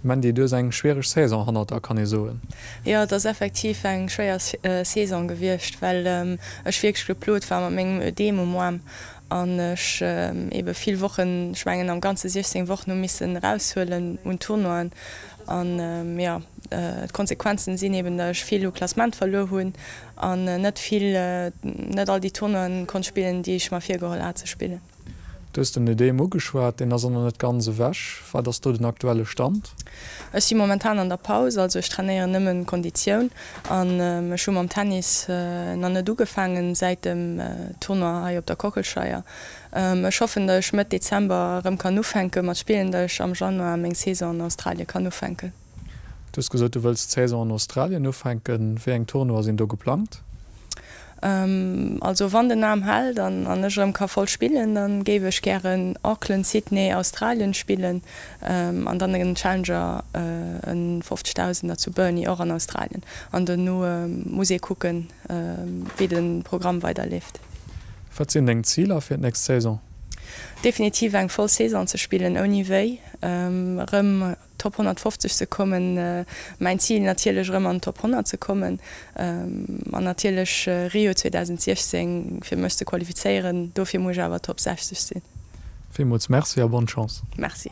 Mandy, du hues eng schwiereg Saison hannert der, kann ee soen? Jo, et ass effektiv eng schwéier Saison gewiescht, well ech wierklech geplot war mat mengem Ödem um Arm an ech ebe vill Wochen, ech mengen am Ganze 16 Wochen, hu missen eraushuelen un Tournoien. An, jo, d'Konsequenzen sinn eben, datt ech vill u Klassement verluer hunn an net vill, net all déi Tournoien konnt spillen, déi ech mer virgeholl hat ze spillen. Du hues den Ödem ugeschwat, deen ass och nach net ganz ewech. Wat ass do den aktuelle Stand? Ech si momentan an der Paus, also ech trainéieren nëmme Konditioun an ech hu mam Tennis nach net ugefaangen säit dem Tournoi hei op der Kochelscheier. Ech hoffen, datt ech Mëtt Dezember erëm kann ufänke mat spillen, datt ech am Januar meng Saison an Australien kann ufänken. Du hues gesot, du wëlls d'Saison an Australien ufänken. Wéi eng Tournoie sinn do geplangt? Also wann den Aarm hält an ech erëm ka voll spillen, da géif ech gären Auckland, Sydney, Australien spillen an dann en Challenger, e Fofzegtausenner zu Burnie, och an Australien. An dono muss ee kucken, wéi de Programm weiderleeft. Wat sinn deng Ziler fir d'nächst Saison? Definitiv eng voll Saison ze spillen, ouni wéi. Erëm Top 150 ze kommen. Mäin Zil natierlech erëm an den Top 100 ze kommen an natierlech Rio 2016 fir mech ze qualifizéieren. Dofir muss ech awer Top 60 sinn. Villmools Merci a Bonne Chance! Merci.